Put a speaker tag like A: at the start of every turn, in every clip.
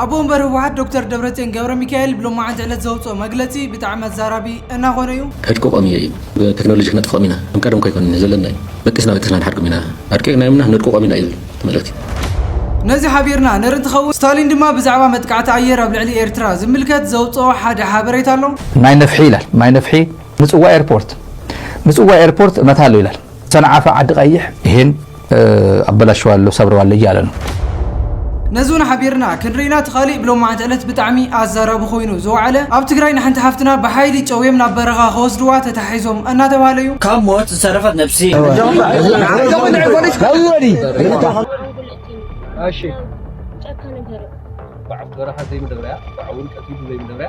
A: ኣቦ ወንበር ህወሓት ዶክተር ደብረፅዮን ገብረሚካኤል ብሎማዕንቲ ዕለት ዘውፅኦ መግለፂ ብጣዕሚ ኣዛራቢ እናኾነ ዩ። ከድቅቆም እየ እዩ
B: ብተክኖሎጂ ክነጥፍኦም ኢና ከም ቀደም ከይኮነ ዘለና እዩ በጢስና በጢስና ንሓድጎም ኢና ኣድቂቅናዮም እና ነድቅቆም ኢና እዩ ዝብል እቲ መልእክቲ። ነዚ
A: ሓቢርና ንርኢ እንትኸውን ስታሊን ድማ ብዛዕባ መጥቃዕቲ ኣየር ኣብ ልዕሊ ኤርትራ ዝምልከት ዘውፅኦ ሓደ ሓበሬታ ኣሎ። ማይ ነፍሒ ይላል
C: ማይ ነፍሒ ምጽዋ ኤርፖርት ምጽዋ ኤርፖርት እመታለሁ ይላል። ሰንዓፈ ዓዲ ቀይሕ ይሄን ኣበላሽዋለሁ ሰብረዋለሁ እያለ ነው።
A: ነዝውን ሓቢርና ክንርኢና ትኻሊእ ብሎማዕንቲ ዕለት ብጣዕሚ ኣዛራቢ ኮይኑ ዝወዓለ ኣብ ትግራይ ንሓንቲ ሓፍትና ብሓይሊ ጨውዮም ናብ በረኻ ከወስድዋ ተታሒዞም እናተባህለ እዩ። ካብ ሞት ዝተረፈት
D: ነብሲ። ጨካን እንተርእ ባዕፍ በረኻ ዘይምደብረያ ባዕውን ቀቲሉ ዘይምደብረያ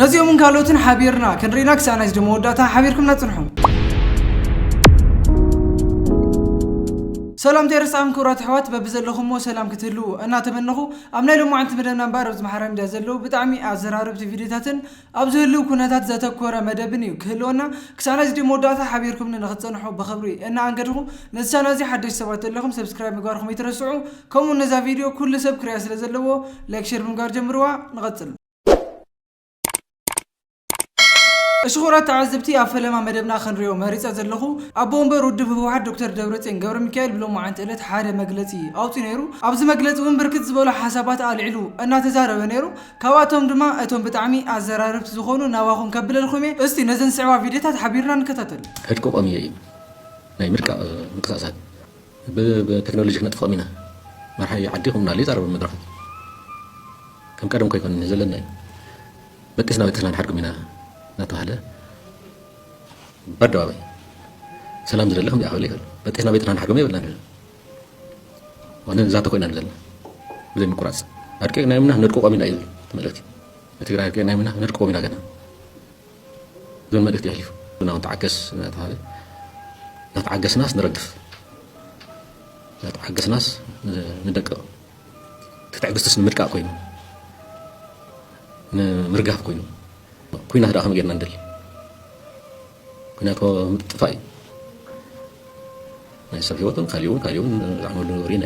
A: ነዚኦምን ካልኦትን ሓቢርና ክንሪና ክሳዕ ናይ ስደት መወዳእታ ሓቢርኩምና ጽንሑ። ሰላምታ የርስዓም ክብራት ኣሕዋት በብዘለኹምዎ ሰላም ክትህልዉ እናተመነኹ ኣብ ናይ ሎማዓንቲ መደብና እምበኣር ኣብዚ ማሓራ ሚድያ ዘለዉ ብጣዕሚ ኣዘራረብቲ ቪድዮታትን ኣብ ዝህልው ኩነታት ዘተኮረ መደብን እዩ ክህልወና ክሳብ ናይዚ ቪድዮ መወዳእታ ሓቢርኩምኒ ንክትፀንሑ ብኽብሪ እናኣንገድኹ ነዚ ቻናል እዚ ሓደሽቲ ሰባት ዘለኹም ሰብስክራይብ ምግባርኹም ይትረስዑ ከምኡ ነዛ ቪድዮ ኩሉ ሰብ ክሪያ ስለ ዘለዎ ላይክ ሸር ብምግባር ጀምርዋ ንቐፅል እሺ ክቡራት ተዓዘብቲ ኣብ ፈለማ መደብና ክንሪኦ መሪፀ ዘለኹ ኣቦ ወንበር ውድብ ህወሓት ዶክተር ደብረፅዮን ገብረ ሚካኤል ብሎማዓንቲ ዕለት ሓደ መግለፂ ኣውፂኡ ነይሩ ኣብዚ መግለፂ እውን ብርክት ዝበሉ ሓሳባት ኣልዒሉ እናተዛረበ ነይሩ ካብኣቶም ድማ እቶም ብጣዕሚ ኣዘራረብቲ ዝኾኑ ናባኹም ከብለልኩም እየ እስቲ ነዘን ዝስዕባ ቪድዮታት ሓቢርና ንከታተል ዕጥቁ ቆምየ እዩ
B: ናይ ምርቃቕ ምንቅስቓሳት ብተክኖሎጂ ክነጥፍኦም ኢና መርሓዮ ዓዲ ክምና ኣሉ ይዛረብ ኣብ መድረኹ ከም ቀደምኮ ኣይኮነን ዘለና እዩ በጢስና በጢስና ንሓድጉም ኢና እናተባህለ በኣደባባይ ሰላም ዝደሊ ከምዚኣ ክብል ይኽእል በጢስና በጢስና ንሓድጎም የብልና ዘለና ዋነ ንዛተ ኮይና ዘለና ብዘይ ምቁራፅ ኣድቂቕናዮም ኢና ነድቅቖም ኢና እዩ ዝብል እቲ መልእኽቲ ንትግራይ ኣድቂቕናዮም ኢና ነድቅቖም ኢና ገና ዝብል መልእኽቲ የሕሊፉ። ንሕና ውን ተዓገስ እናተባህለ እናተዓገስናስ ንረግፍ እናተዓገስናስ ንደቅቕ እቲ ትዕግስትስ ንምድቃቕ ኮይኑ ንምርጋፍ ኮይኑ ኩናት ደኣ ከመይ ጌርና ንደሊ ኩናት ምጥፋእ እዩ ናይ ሰብ ህይወትን ካልእ እውን ካልእ እውን ዝዓመሉ ነገር ኢና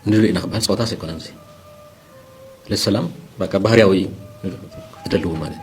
B: ንደሊ ኢና ክበሃል ፀወታስ ኣይኮነን እዚ ለሰላም በቃ ባህርያዊ እዩ ትደልዎ ማለት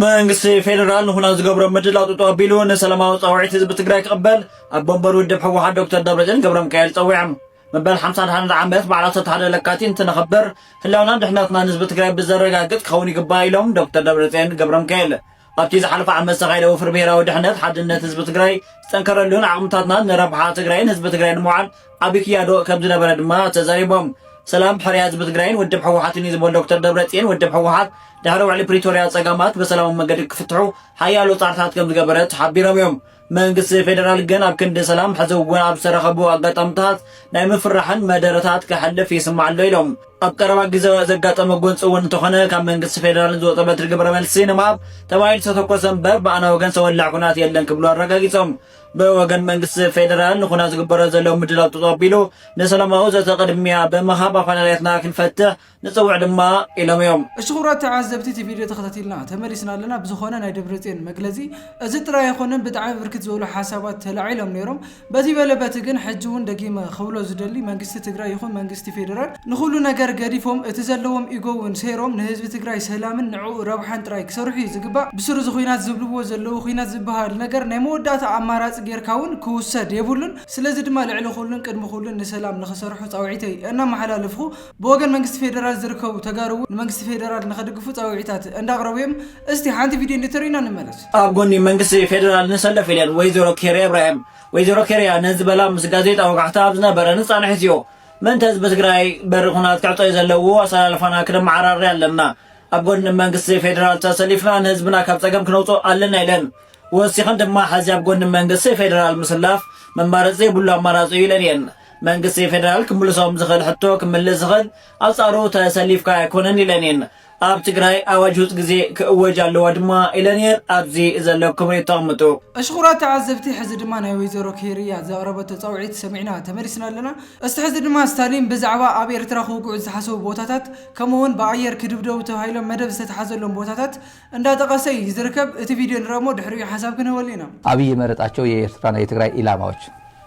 B: መንግስቲ
D: ፌደራል ንኹናት ዝገብሮ ምድላው ጥጡ ኣቢሉ ንሰላማዊ ፃውዒት ህዝቢ ትግራይ ክቕበል ኣቦ ወንበር ውድብ ህወሓት ዶክተር ደብረፅዮን ገብረሚካኤል ፀዊዖም መበል ሓምሳ ሓደን ዓመት በዓል ዓሰርተ ሓደ ለካቲት እንትነኽብር ህላውናን ድሕነትናን ህዝቢ ትግራይ ብዘረጋግፅ ክኸውን ይግባእ ኢሎም ዶክተር ደብረፅዮን ገብረሚካኤል ኣብቲ ዝሓለፈ ዓመት ዝተኻየደ ወፍሪ ብሄራዊ ድሕነት ሓድነት ህዝቢ ትግራይ ዝጠንከረሉን ዓቕምታትና ንረብሓ ትግራይን ህዝቢ ትግራይ ንምውዓል ዓብዪ ክያዶ ከም ዝነበረ ድማ ተዛሪቦም። ሰላም ሕርያ ህዝቢ ትግራይን ውድብ ሕወሓትን እዩ ዝበሉ ዶክተር ደብረፅዮን ውድብ ሕወሓት ድሕሪ ውዕሊ ፕሪቶርያ ፀገማት ብሰላማዊ መገዲ ክፍትሑ ሓያሎ ፃዕርታት ከም ዝገበረ ተሓቢሮም እዮም። መንግስቲ ፌደራል ግን ኣብ ክንዲ ሰላም ሕዚ እውን ኣብ ዝተረኸቡ ኣጋጣምታት ናይ ምፍራሕን መደረታት ከሕልፍ ይስማዕ ኣሎ ኢሎም። ኣብ ቀረባ ግዜ ዘጋጠመ ጎንፂ እውን እንተኾነ ካብ መንግስቲ ፌደራል ዝወፀ በትሪ ግብረ መልሲ ንምሃብ ተባሂሉ ዝተተኮሰ እምበር ብኣና ወገን ዝተወልዐ ኩናት የለን ክብሉ ኣረጋጊፆም። ብወገን መንግስቲ ፌደራል ንኩናት ዝግበሮ ዘሎ ምድላው ተፀቢሉ ንሰላማዊ ዘተ ቅድሚያ ብምሃብ ኣፈላላያትና ክንፈትሕ ንጸውዕ ድማ ኢሎም እዮም። እሺ ክቡራት ተዓዘብቲ እቲ
A: ቪድዮ ተኸታቲልና ተመሊስና ኣለና ብዝኾነ ናይ ደብረፅዮን መግለፂ እዚ ጥራይ ኣይኾነን ብጣዕሚ ብርክት ዝበሉ ሓሳባት ተላዒሎም ነይሮም በዚ በለ በቲ ግን ሕጂ እውን ደጊመ ክብሎ ዝደሊ መንግስቲ ትግራይ ይኹን መንግስቲ ፌደራል ንኹሉ ነገር ገዲፎም እቲ ዘለዎም ኢጎ እውን ሰይሮም ንህዝቢ ትግራይ ሰላምን ንዕኡ ረብሓን ጥራይ ክሰርሑ እዩ ዝግባእ ብስሩ እዚ ኹናት ዝብልዎ ዘለዉ ኹናት ዝበሃል ነገር ናይ መወዳእታ ኣማራፂ ጌርካ እውን ክውሰድ የብሉን ስለዚ ድማ ልዕሊ ኹሉን ቅድሚ ኹሉን ንሰላም ንኽሰርሑ ፃውዒተይ እናመሓላለፍኹ ብወገን መንግስቲ ፌደራል ዝርከቡ ተጋሩ እውን ንመንግስቲ ፌደራል ንኸድግፉ ፃውዒታት እንዳቕረቡ እዮም። እስቲ ሓንቲ ቪድዮ እንድተርእዩና ንመለስ። ኣብ ጎኒ መንግስቲ
D: ፌደራል ንሰለፍ ኢለን ወይዘሮ ኬርያ ኢብራሂም። ወይዘሮ ኬርያ ነዚ ዝበላ ምስ ጋዜጣ ወጋሕታ ኣብ ዝነበረ ንፃንሒት እዩ። ምእንተ ህዝቢ ትግራይ በሪ ኹናት ክዕፀዩ ዘለዎ ኣሰላልፋና ክነመዓራሪ ኣለና። ኣብ ጎኒ መንግስቲ ፌደራል ተሰሊፍና ንህዝብና ካብ ፀገም ክነውፅኦ ኣለና ኢለን። ወሲኸን ድማ ሕዚ ኣብ ጎኒ መንግስቲ ፌደራል ምስላፍ መማረፂ ዘይብሉ ኣማራፂ እዩ ኢለን እየን። መንግስቲ ፌደራል ክምልሶም ዝኽእል ሕቶ ክምልስ ዝኽእል ኣንጻሩ ተሰሊፍካ ኣይኮነን ኢለን እየን። ኣብ ትግራይ ኣዋጅ ውፅ ግዜ ክእወጅ ኣለዎ ድማ ኢለን እየን። ኣብዚ ዘለኩም ርእይቶ ኣቕምጡ። እሺ ኩራት ተዓዘብቲ
A: ሕዚ ድማ ናይ ወይዘሮ ኬይርያ ዘቅረበቶ ጸውዒት ሰሚዕና ተመሊስና ኣለና እስቲ ሕዚ ድማ ስታሊን ብዛዕባ ኣብ ኤርትራ ክውግዑ ዝተሓሰቡ ቦታታት ከምኡ ውን ብኣየር ክድብደቡ ተባሂሎም መደብ ዝተትሓዘሎም ቦታታት እንዳጠቀሰ እዩ ዝርከብ እቲ ቪድዮ ንርኣሞ ድሕሪኡ ሓሳብ ክንህበሉ ኢና። ኣብይ የመረጣቸው
C: የኤርትራ ናይ የትግራይ ኢላማዎች።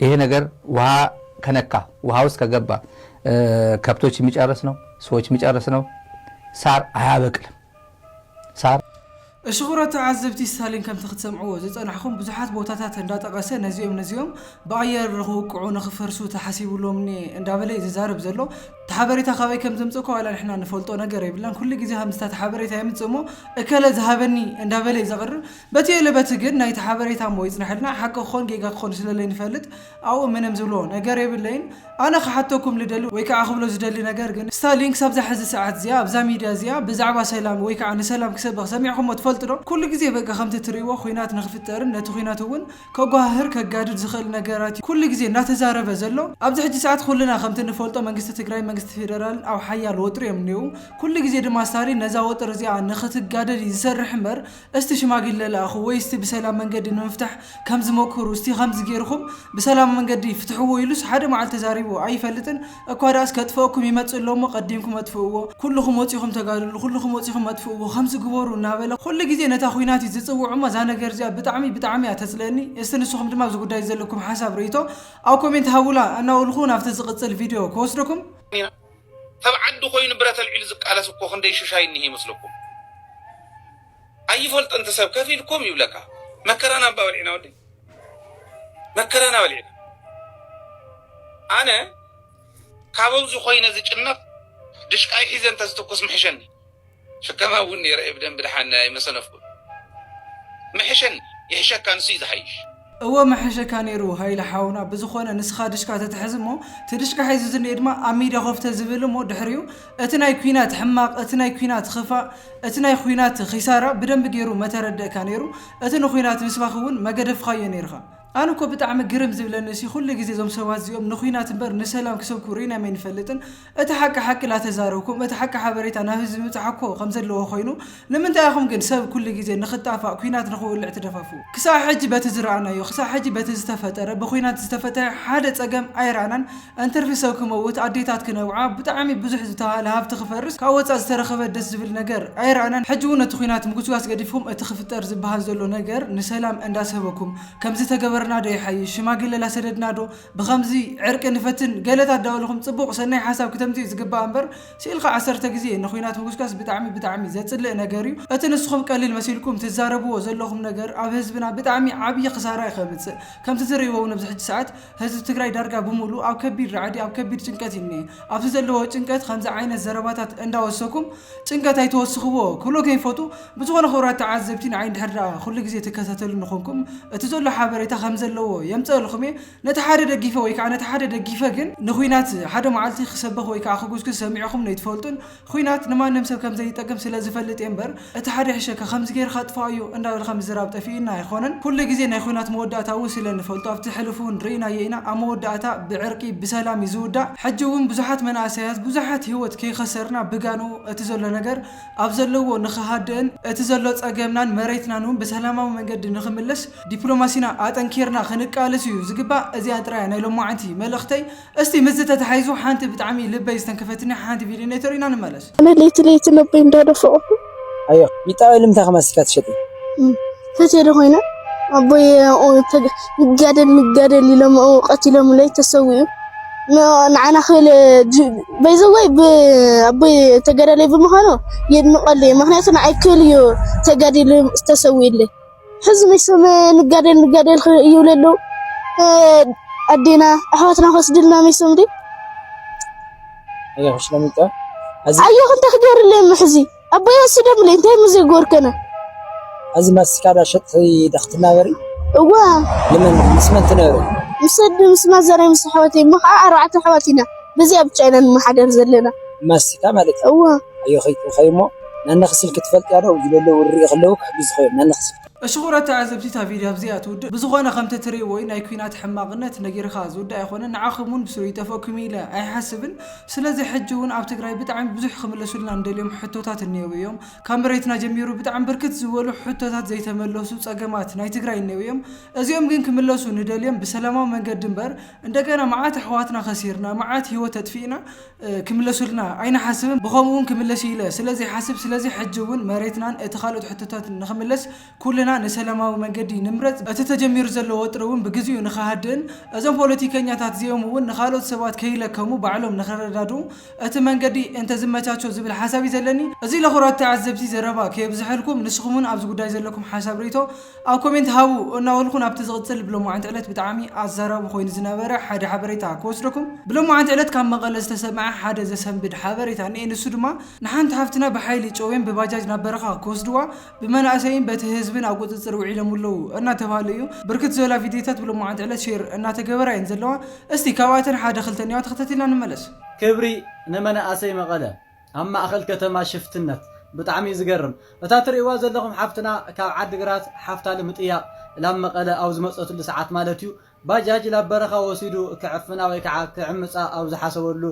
C: ይሄ ነገር ውሃ ከነካ ውሃ ውስጥ ከገባ ከብቶች የሚጨርስ ነው፣ ሰዎች የሚጨርስ ነው። ሳር አያበቅልም። ሳር እሽቑሮ
A: ተዓዘብቲ ስታሊን ከምቲ ክትሰምዕዎ ዝጸናሕኹም ብዙሓት ቦታታት እንዳጠቐሰ ነዚኦም ነዚኦም ብኣየር ንኽውቅዑ ንኽፈርሱ ተሓሲብሎም እኒ እንዳበለ እዩ ዝዛረብ ዘሎ እቲ ሓበሬታ ካበይ ከም ዘምጽእኮ ዋላ ንሕና ንፈልጦ ነገር የብልናን ኩሉ ግዜ ከምዚ ታቲ ሓበሬታ የምጽእ እሞ እከለ ዝሃበኒ እንዳበለ እዩ ዘቕርብ በቲ እለ በቲ ግን ናይቲ ሓበሬታ እሞ ይጽነሐልና ሓቂ ክኾን ጌጋ ክኾን ስለለይንፈልጥ ኣብኡ ምንም ዝብሎ ነገር የብለይን ኣነ ክሓተኩም ልደሊ ወይ ከኣ ክብሎ ዝደሊ ነገር ግን ስታሊን ክሳብ እዛ ሕዚ ሰዓት እዚኣ ኣብዛ ሚድያ እዚኣ ብዛዕባ ሰላም ወይ ከኣ ንሰላም ክሰብኽ ሰሚዕኩሞ ትፈልጡ ዶ ኩሉ ግዜ በቃ ከምቲ ትርእይዎ ኹናት ንኽፍጠርን ነቲ ኹናት እውን ከጓሃህር ከጋድድ ዝኽእል ነገራት እዩ ኩሉ ግዜ እናተዛረበ ዘሎ ኣብዚ ሕጂ ሰዓት ኹልና ከምቲ ንፈልጦ መንግስቲ ትግራይን መንግስቲ ፌደራልን ኣብ ሓያል ወጥሪ እዮም እኔዉ ኩሉ ግዜ ድማ ስታሊን ነዛ ወጥሪ እዚኣ ንኽትጋደል እዩ ዝሰርሕ እምበር እስቲ ሽማግለ ልኣኹ ወይ እስቲ ብሰላም መንገዲ ንምፍታሕ ከም ዝመኩሩ እስቲ ከምዚ ጌርኹም ብሰላም መንገዲ ፍትሕዎ ኢሉስ ሓደ መዓልቲ ተዛሪቡ ኣይፈልጥን እኳ ድኣስ ከጥፍኣኩም ይመጽእ ኣሎ እሞ ቀዲምኩም ኣጥፍእዎ ኩሉኹም ወጺኹም ተጋድሉ ኩሉኹም ወጺኹም ኣጥፍእዎ ከምዚ ግበሩ እናበለ ኩሉ ግዜ ነታ ኹናት እዩ ዝጽውዕ እሞ እዛ ነገር እዚኣ ብጣዕሚ ብጣዕሚ እያ ተጽልእኒ እስቲ ንስኹም ድማ ኣብዚ ጉዳይ ዘለኩም ሓሳብ ርእይቶ ኣብ ኮሜንት ሃቡላ እናበልኹ ናብቲ ዝቕጽል ቪድዮ ክወስደኩም። ተብ
E: ዓዱ ኮይኑ ብረት ኣልዒሉ ዝቃለስ እኮ ክንደይ ሹሻይ እኒሀ ይመስለኩም ኣይፈልጥን ትሰብ ከፍ ኢልኩም ይብለካ መከራና እባ በልዒና ወደይ መከራና በልዒና ኣነ ካብ ኣዚ ኮይነ ዝጭነቅ ድሽቃይ ሒዘ እንተ ዝትኩስ ምሐሸኒ። ጭከኻ እውን ነይረ'የ ብደንቢ ደሓን ኣይመሰነፍኩን። ምሕሸኒ ይሕሸካ ንሱ እዩ ዝሓይሽ። እወ ምሐሸካ
A: ነይሩ ሃይለ ሓውና ብዝኾነ ንስኻ ድሽካ ተትሕዝ እሞ እቲ ድሽካ ሒዙ ዝኒኤ ድማ ኣብ ሚድያ ኮፍ ተዝብል እሞ ድሕሪኡ እቲ ናይ ኩናት ሕማቅ እቲ ናይ ኩናት ኽፋእ እቲ ናይ ኹናት ኺሳራ ብደንቢ ገይሩ መተረደእካ ነይሩ እቲ ንኹናት ምስባክ እውን መገደፍኻዮ ነይርኻ ኣነ እኮ ብጣዕሚ ግርም ዝብለኒ ሲ ኩሉ ግዜ እዞም ሰባት እዚኦም ንኩናት እምበር ንሰላም ክሰብኩ ሪኢናም ኣይንፈልጥን እቲ ሓቂ ሓቂ ናተዛረብኩም እቲ ሓቂ ሓበሬታ ናብ ህዝቢ ምብጻሕ እኮ ከም ዘለዎ ኮይኑ ንምንታይ ኢኹም ግን ሰብ ኩሉ ግዜ ንኽጣፋእ ኩናት ንኽውልዕ ትደፋፍኡ? ክሳዕ ሕጂ በቲ ዝረኣናዮ ክሳዕ ሕጂ በቲ ዝተፈጠረ ብኩናት ዝተፈተሐ ሓደ ጸገም ኣይረኣናን እንትርፊ ሰብ ክመውት ኣዴታት ክነብዓ ብጣዕሚ ብዙሕ ዝተባህለ ሃብቲ ክፈርስ ካብ ወጻእ ዝተረኸበ ደስ ዝብል ነገር ኣይረኣናን ሕጂ ውን እቲ ኩናት ምጉስጓስ ገዲፍኩም እቲ ክፍጠር ዝበሃል ዘሎ ነገር ንሰላም እንዳሰበኩም ከምዚ ተገበርና ዶ ይሓይሽ ሽማግለ ላሰደድና ዶ ብኸምዚ ዕርቂ ንፈትን ገለ ታዳውልኹም ጽቡቕ ሰናይ ሓሳብ ክተምጽኡ ዝግባእ እምበር ሲኢልካ ዓሰርተ ግዜ ንኹናት ምጉስጋስ ብጣዕሚ ብጣዕሚ ዘጽልእ ነገር እዩ እቲ ንስኹም ቀሊል መሲልኩም ትዛረብዎ ዘለኹም ነገር ኣብ ህዝብና ብጣዕሚ ዓብይ ክሳራ እዩ ከምጽእ ከምቲ ትርእይዎ ውን ኣብዚ ሕጂ ሰዓት ህዝቢ ትግራይ ዳርጋ ብሙሉእ ኣብ ከቢድ ራዕዲ ኣብ ከቢድ ጭንቀት እዩ እንኤ ኣብዚ ዘለዎ ጭንቀት ኸምዚ ዓይነት ዘረባታት እንዳወሰኩም ጭንቀት ኣይተወስኽዎ ክብሎ ከይፈቱ ብዝኾነ ክብራት ተዓዘብቲ ንዓይ እንድሕር ደኣ ኩሉ ግዜ ትከታተሉኒ ኮንኩም እቲ ዘሎ ሓበሬታ ከም ዘለዎ የምጸእልኹም እየ። ነቲ ሓደ ደጊፈ ወይ ከኣ ነቲ ሓደ ደጊፈ ግን ንኹናት ሓደ መዓልቲ ክሰበኽ ወይ ከኣ ክጉስጉስ ሰሚዕኹም ነይትፈልጡን ኹናት ንማንም ሰብ ከም ዘይጠቅም ስለ ዝፈልጥ እየ እምበር እቲ ሓደ ይሕሸካ ከምዚ ገይርካ ኣጥፍኣዮ እንዳበልካ ምዝራብ ጠፊኡና ኣይኾነን ኩሉ ግዜ ናይ ኹናት መወዳእታ እውን ስለ ንፈልጦ ኣብቲ ሕሉፍ እውን ርኢናዮ ኢና ኣብ መወዳእታ ብዕርቂ ብሰላም እዩ ዝውዳእ ሕጂ እውን ብዙሓት መናእሰያት ብዙሓት ሂወት ከይኸሰርና ብጋንኡ እቲ ዘሎ ነገር ኣብ ዘለዎ ንክሃድእን እቲ ዘሎ ፀገምናን መሬትናን እውን ብሰላማዊ መንገዲ ንክምለስ ዲፕሎማሲና ኣጠንኪርና ክንቃለስ እዩ ዝግባእ እዚኣን ጥራይ እያ ናይ ሎማዓንቲ መልእኽተይ እስቲ ምስዚ ተተሓሒዙ ሓንቲ ብጣዕሚ ልበይ ዝተንከፈትኒ ሓንቲ ቪድዮ እኔቶ ኢና ንመለስ። ኣነ ለይቲ ለይቲ
F: ልበይ እንዳደፈቅኩ። ኣየ
G: ቢጣ ልምንታይ ከማን ስልካ ትሸጢ። ተቴደ
F: ኮይኑ ኣቦይ ንጋደል ንጋደል ኢሎም ቀቲሎምለይ ተሰዊኡ ንዓና ክብል በይዘወይ ኣቦይ ተጋዳላይ ብምዃኑ የድንቀሉ እዩ ምክንያቱ ንዓይ ክብል እዩ ተጋዲሉ ዝተሰዊኡለይ ሕዚ መይሶም ንጋደል ንጋደል ይብሉ ኣለዉ ኣዴና ኣሕዋትና ከስድልና መይሶም ድ ኣየኹ
G: እንታይ
F: ክገብርለይ ሕዚ ኣቦይ ኣስደምለይ እንታይ ምዘጎርከነ እዚ
G: ማስቲካ ዳሸጥ ዳክትናበሪ እወ
F: ልምን ምስ
G: መን ትነብሪ ምስ ኣደ ምስ
F: ማዘረይ ምስ ኣሕዋተይ እሞ ከዓ ኣርባዕተ ኣሕዋት ኢና በዚኣ ብቻ ኢና ንመሓደር ዘለና ማስቲካ ማለት
G: እዩ እወ ኣዮ ከይትብኸ
F: እሞ
G: ናነኺ ስልኪ ትፈልጥያ ዶ ዝለለ ውርርእ ከለዉ ክሕግዝኹ እዮም ናነኺ ስልኪ እሽኹረ ተዓዘብቲ
A: እታ ቪድዮ ኣብዚኣ ትውድእ ብዝኾነ ከምቲ ትሪእዎዩ ናይ ኩናት ሕማቅነት ነጊርኻ ዝውዳእ ኣይኾነን ንዓኹም ውን ብስሩ ይጠፍእኩም ኢለ ኣይሓስብን ስለዚ ሕጂ ውን ኣብ ትግራይ ብጣዕሚ ብዙሕ ክምለሱልና እንደልዮም ሕቶታት እኔዉ እዮም። ካብ መሬትና ጀሚሩ ብጣዕሚ ብርክት ዝበሉ ሕቶታት ዘይተመለሱ ፀገማት ናይ ትግራይ እኔዉ እዮም። እዚኦም ግን ክምለሱ ንደልዮም ብሰላማዊ መንገዲ እምበር እንደገና መዓት ኣሕዋትና ከሲርና መዓት ሂወት ኣጥፊእና ክምለሱልና ኣይንሓስብን ብኸምኡ ውን ክምለስ እዩ ኢለ ስለዘይሓስብ ስለዚ ሕጂ ውን መሬትናን እቲ ካልኦት ሕቶታትን ንክምለስ ኩልና ንሰለማዊ መንገዲ ንምረጽ፣ እቲ ተጀሚሩ ዘሎ ወጥሪ እውን ብግዚኡ ንኸሃድእን እዞም ፖለቲከኛታት እዚኦም እውን ንኻልኦት ሰባት ከይለከሙ ባዕሎም ንኸረዳድኡ እቲ መንገዲ እንተዝመቻቾ ዝብል ሓሳብ እዩ ዘለኒ። እዚ ለኹራት ተዓዘብቲ ዘረባ ከየብዝሐልኩም ንስኹም እውን ኣብዚ ጉዳይ ዘለኩም ሓሳብ ርእይቶ ኣብ ኮሜንት ሃቡ እናበልኩ ናብቲ ዝቕጽል ብሎማዕንቲ ዕለት ብጣዕሚ ኣዛራቢ ኮይኑ ዝነበረ ሓደ ሓበሬታ ክወስደኩም። ብሎማዕንቲ ዕለት ካብ መቐለ ዝተሰምዐ ሓደ ዘሰንብድ ሓበሬታ እንኤ ንሱ ድማ ንሓንቲ ሓፍትና ብሓይሊ ጨውዮም ብባጃጅ ናብ በረኻ ክወስድዋ ብመናእሰይን በቲ ህዝብን ኣብ ቁፅፅር ውዒሎሙ ኣለዉ እናተብሃለ እዩ። ብርክት ዝበላ ቪድዮታት ብሎማዓንቲ ዕለት ሼር እናተገበራ እየን ዘለዋ። እስቲ ካብኣተን ሓደ ክልተ እንየዋ ተኸታቲልና ንመለስ። ክብሪ
H: ንመናእሰይ መቐለ ኣብ ማእኸል ከተማ ሽፍትነት። ብጣዕሚ እዩ ዝገርም እታ ትርእይዋ ዘለኹም ሓፍትና ካብ ዓዲግራት ሓፍታ ልምጥያቕ ላብ መቐለ ኣብ ዝመፀትሉ ሰዓት ማለት እዩ ባጃጅ ናብ በረኻ ወሲዱ ክዕፍና ወይ ከዓ ክዕምፃ ኣብ ዝሓሰበሉ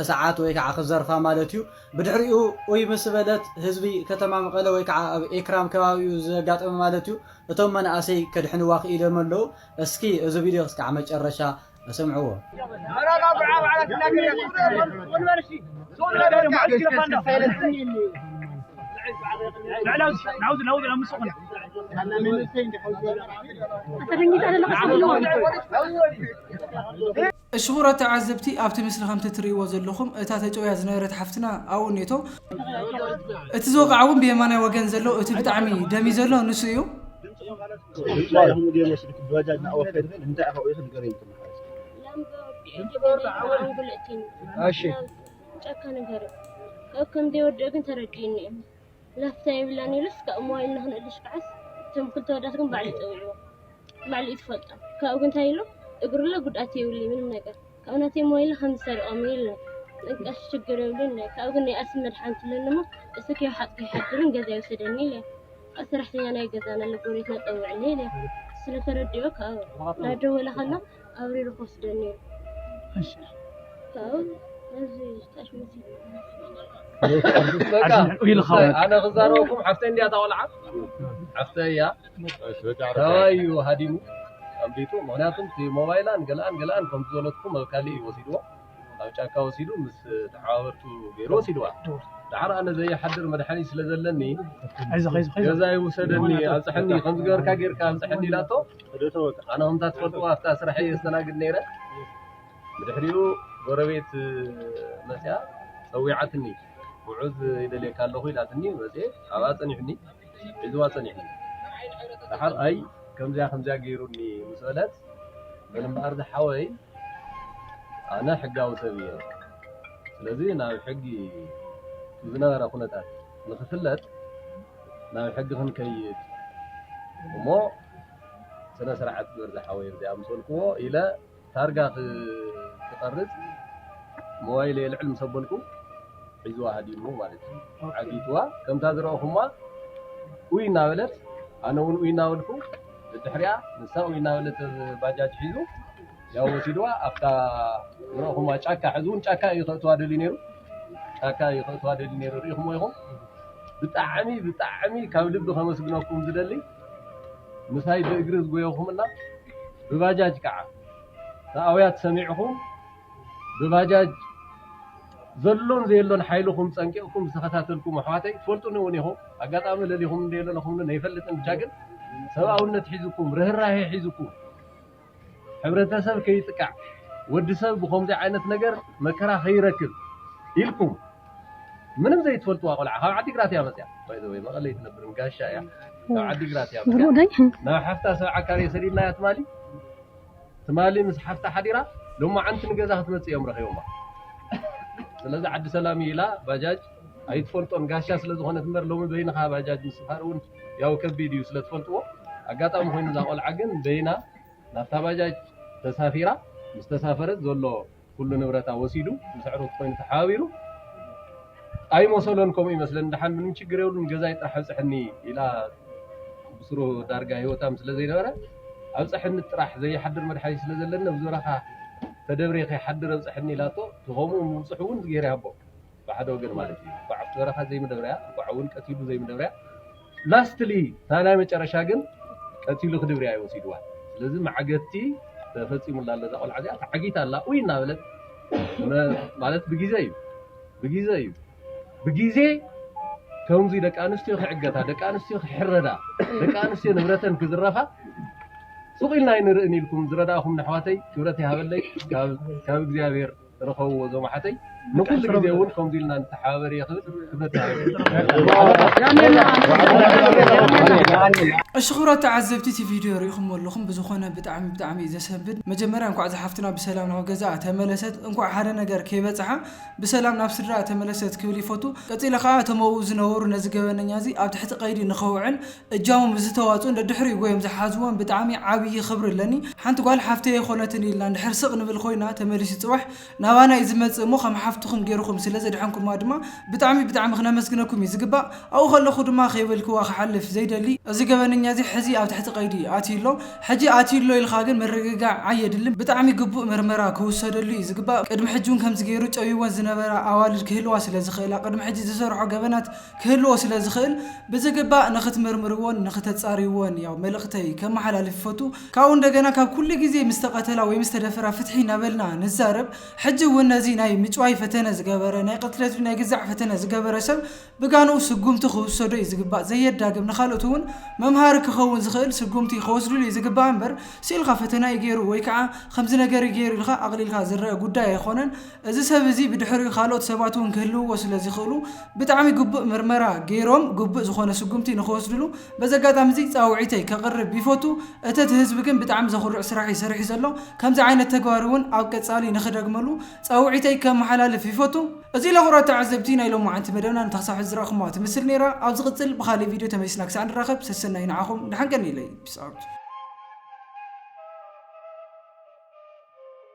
H: ሰዓት ወይ ከዓ ክዘርፋ ማለት እዩ። ብድሕሪኡ ኡይ ምስ በለት ህዝቢ ከተማ መቐለ ወይ ከዓ ኣብ ኤክራም ከባቢኡ ዘጋጠመ ማለት እዩ እቶም መናእሰይ ከድሕንዋ ክኢሎም ኣለው። እስኪ እዚ ቪድዮ ክስካዕ መጨረሻ ስምዕዎ።
A: እሽኹራት ተዓዘብቲ ኣብቲ ምስሊ ከምቲ ትርእይዎ ዘለኹም እታ ተጨውያ ዝነበረት ሓፍትና ኣብኡ እኔቶ እቲ ዝወቕዓ እውን ብየማናይ ወገን ዘሎ እቲ ብጣዕሚ ደምዩ ዘሎ ንሱ እዩ
I: ጨካ ነገር ኣብ ከምዘይወድእ ግን ተረዲኡኒ
J: እዩ ላፍታ የብላን ኢሉስ ካብኡ ሞባይል ንኽንእልሽ ክዓስ እቶም ክልተ ኣወዳት ግን ባዕሉ እዩ ፀዊዕዎ ባዕሉ እዩ ትፈልጦ ካብኡ ግን እንታይ ኢሉ እግሩለ ጉድኣት የብሉይ ምንም ነገር ካብኡ ናተይ ሞባይል ከም ዝሰሪቖም እዩ ኢሉኒ እንቀሽ ችግር የብሉን ኢለ ካብኡ ግን ናይ ኣስም መድሓኒት ኣለኒ እሞ እሱ ከይወሓጥኩ ይሓድርን ገዛ ይውሰደኒ ኢለ ካብኡ ሰራሕተኛ ናይ ገዛና ኣሎ ጎረቤትና ፀውዕኒ ኢለ ስለተረድኦ ካብኡ እናደወለ ከሎ ኣብሪሩ ክወስደኒ ነይሩ። እሺ
K: ካብኡ ነዚ ዝጣሽ መሲሉ በቃ ኣድሚዑ ኢልኻ እሰይ፣ ኣነ ክዛረበኩም ሓፍተይ እንድያ እታ ቆልዓ ሓፍተይ እያ ተባዩ ሃዲሙ ኣምሊጡ ምክንያቱም እቲ ሞባይላን ገለኣን ገለኣን ከምቲ ዝበለትኩም ኣብ ካሊእ እዩ ወሲድዎ ኣብ ጫካ ወሲዱ ምስ ተሓባበርቱ ገይሩ ወሲድዋ ድሓር ኣነ ዘይሓድር መድሓኒት ስለ ዘለኒ ኣይዞኽ ኣይዞኽ ኣይዞኽ ገዛ ይውሰደኒ ኣብፅሐኒ ከምዚ ገበርካ ጌርካ ኣብፅሐኒ ኢላቶ ኣነ ከምታ ትፈልጥዎ ኣብታ ስርሐይ የስተናግድ ነይረ ብድሕሪኡ ጎረቤት መፅያ ፀዊዓትኒ ሙዑዝ ይደልየካ ኣለኹ ኢላትኒ መፅየ ኣብኣ ፀኒሑኒ ሒዝዋ ፀኒሑኒ ደሓር ኣይ ከምዚኣ ከምዚኣ ገይሩኒ ምስ በለት በል እምበኣር ዝሓወይ ኣነ ሕጋዊ ሰብ እየ ስለዚ ናብ ሕጊ ዝነበረ ኩነታት ንክፍለጥ ናብ ሕጊ ክንከይድ እሞ ስነስርዓት ግበር ዝሓወይ እዚ ኣምሰልክዎ ኢለ ታርጋ ክቀርጽ ሞባይለይ ኣልዕል ምስ ኣበልኩ ሒዝዋ ሃዲሙ ማለት እዩ ዓጊትዋ ከምታ ዝረኣኹማ ኡይ እናበለት ኣነ እውን ኡይ እናበልኩ ብድሕሪኣ ንሳ ኡይ እናበለት ባጃጅ ሒዙ ያው ወሲድዋ ኣብታ ዝረእኹማ ጫካ ሕዚ እውን ጫካ እዩ ከእትዋ ደልዩ ነይሩ ጫካ እዩ ከእትዋ ደልዩ ነይሩ ርኢኹሞ ኢኹም ብጣዕሚ ብጣዕሚ ካብ ልቢ ከመስግነኩም ዝደሊ ምሳይ ብእግሪ ዝጎየኹምና ብባጃጅ ከዓ ንኣውያት ሰሚዕኹም ብባጃጅ ዘሎን ዘየሎን ሓይልኹም ጸንቂቕኩም ዝተኸታተልኩም ኣሕዋተይ ትፈልጡኒ እውን ኢኹም ኣጋጣሚ ለሊኹም እንደ ለለኹምኒ ነይፈልጥን ብቻ ግን ሰብኣውነት ሒዝኩም ርህራሄ ሒዝኩም ሕብረተሰብ ከይጥቃዕ ወድሰብ ብኸምዚ ዓይነት ነገር መከራ ከይረክብ ኢልኩም ምንም ዘይትፈልጥዋ ቆልዓ ካብ ዓዲግራት እያ መፅያ ባይ ዘ ወይ መቐለ ኣይትነብር ንጋሻ እያ ካብ ዓዲግራት እያ መፅያ ናብ ሓፍታ ሰብዓ ካሬ ሰዲድናያ ትማሊ ትማሊ ምስ ሓፍታ ሓዲራ ሎማዓንቲ ንገዛ ክትመፅእ እዮም ረኺቦማ ስለዚ ዓዲ ሰላም እዩ ኢላ ባጃጅ ኣይትፈልጦን ጋሻ ስለ ዝኾነት እምበር ሎሚ በይንኻ ባጃጅ ምስፋር እውን ያው ከቢድ እዩ ስለ ትፈልጥዎ ኣጋጣሚ ኮይኑ እዛ ቆልዓ ግን በይና ናብታ ባጃጅ ተሳፊራ ምስ ተሳፈረት ዘሎ ኩሉ ንብረታ ወሲዱ ምስ ኣዕሩኽቲ ኮይኑ ተሓባቢሩ ኣይመሰሎን ከምኡ ይመስለኒ ድሓን ምንም ችግር የብሉን ገዛይ ጥራሕ ኣብፅሐኒ ኢላ ብስሩ ዳርጋ ሂወታም ስለ ዘይነበረ ኣብፅሐኒ ጥራሕ ዘይሓድር መድሓኒት ስለ ዘለኒ ኣብዚ በረኻ ተደብሬ ከይሓድር ኣብፅሐኒ ኢላቶ ከምኡ ምብፅሑ እውን እግዚኣብሔር ይሃቦ ብሓደ ወገን ማለት እዩ እንኳዕ ኣብቲ በረኻ ዘይምደብርያ እንኳዕ እውን ቀቲሉ ዘይምደብርያ ላስትሊ እታ ናይ መጨረሻ ግን ቀቲሉ ክድብርያ እዩ ወሲድዋ ስለዚ ማዕገቲ ተፈፂሙላ ኣለዛ ቆልዓ እዚኣ ተዓጊታ ኣላ ኡይ እናበለት ማለት ብግዜ እዩ ብግዜ እዩ ብግዜ ከምዚ ደቂ ኣንስትዮ ክዕገታ ደቂ ኣንስትዮ ክሕረዳ ደቂ ኣንስትዮ ንብረተን ክዝረፋ ሱቕ ኢልና ኣይንርእን ኢልኩም ዝረዳእኹም ንኣሕዋተይ ክብረት ይሃበለይ ካብ እግዚኣብሔር ተረከብዎ እዞም ኣሓተይ ንኩሉ ግዜ እውን ከምዚ ኢልና ንተሓባበር እየ ክብል ክብረት ይሃበኒ
A: እሺ ክብራት ተዓዘብቲ እቲ ቪድዮ ሪኢኹሞ ኣለኹም ብዝኾነ ብጣዕሚ ብጣዕሚ እዩ ዘሰንብድ መጀመርያ እንኳዕ እዛ ሓፍትና ብሰላም ናብ ገዛኣ ተመለሰት እንኳዕ ሓደ ነገር ከይበፅሓ ብሰላም ናብ ስድራኣ ተመለሰት ክብል ይፈቱ ቀፂለ ከዓ እቶም ኣብኡ ዝነበሩ ነዚ ገበነኛ እዚ ኣብ ትሕቲ ቀይዲ ንከውዕል እጃሞም ብዝተዋጽኡን ደድሕሪኡ ጎዮም ዝሓዝዎን ብጣዕሚ ዓብይ ኽብሪ ኣለኒ ሓንቲ ጓል ሓፍተይ ኣይኾነትን ኢልና እንድሕር ስቅ ንብል ኾይና ተመሊሱ ጽባሕ ናባና እዩ ዝመጽእ እሞ ኸም ሓፍትኹም ጌርኹም ስለ ዘድሐንኩማ ድማ ብጣዕሚ ብጣዕሚ ክነመስግነኩም እዩ ዝግባእ ኣብኡ ኸለኹ ድማ ከይበልክዋ ክሓልፍ ዘይደሊ እዚ ገበነኛ እዚ ሕዚ ኣብ ትሕቲ ቀይዲ ኣትዩ ኣሎ ሕጂ ኣትዩ ኣሎ ኢልኻ ግን ምርግጋዕ ኣየድልን ብጣዕሚ ግቡእ ምርመራ ክውሰደሉ እዩ ዝግባእ ቅድሚ ሕጂ እውን ከምዚ ጌሩ ጨውይወን ዝነበራ ኣዋልድ ክህልዋ ስለ ዝኽእላ ቅድሚ ሕጂ ዝሰርሖ ገበናት ክህልዎ ስለ ዝኽእል ብዝግባእ ንኽትምርምርዎን ንኽተጻርይዎን ያው መልእኽተይ ከመሓላልፍ ይፈቱ። ካብኡ እንደገና ካብ ኩሉ ግዜ ምስ ተቐተላ ወይ ምስ ተደፈራ ፍትሒ እናበልና ንዛረብ። ሕጂ እውን ነዚ ናይ ምጭዋይ ፈተነ ዝገበረ፣ ናይ ቅትለት ድዩ ናይ ግዛዕ ፈተነ ዝገበረ ሰብ ብጋንኡ ስጉምቲ ክውሰዶ እዩ ዝግባእ። ዘየዳግም ንኻልኦት እውን መምሃሪ ክኸውን ዝኽእል ስጉምቲ ከወስድሉ እዩ ዝግባእ እምበር ስኢልካ ፈተና እዩ ገይሩ ወይ ከዓ ከምዚ ነገር እዩ ገይሩ ኢልካ ኣቕሊልካ ዝረኣ ጉዳይ ኣይኾነን። እዚ ሰብ እዚ ብድሕሪኡ ካልኦት ሰባት እውን ክህልውዎ ስለ ዝኽእሉ ብጣዕሚ ግቡእ ምርመራ ገይሮም ግቡእ ዝኾነ ስጉምቲ ንኽወስድሉ በዚ ኣጋጣሚ እዚ ፃውዒተይ ከቕርብ ይፎቱ። እተት ህዝቢ ግን ብጣዕሚ ዘኹርዕ ስራሕ እዩ ሰሪሑ ዘሎ። ከምዚ ዓይነት ተግባር እውን ኣብ ቀፃሊ ንኽደግመሉ ፃውዒተይ ከመሓላልፍ ይፎቱ። እዚ ለኹራት ተዓዘብቲ ናይ ሎማዓንቲ መደብና ነታ ክሳብ ሕዚ ዝረኣኹምዋ ትምስል ነይራ። ኣብ ዝቕፅል ብኻሊእ ቪድዮ ተመሊስና ክሳዕ ንራኸብ ሰሰናዩ ንዓኹም ደሓን ቀንዩለይ። Peace out።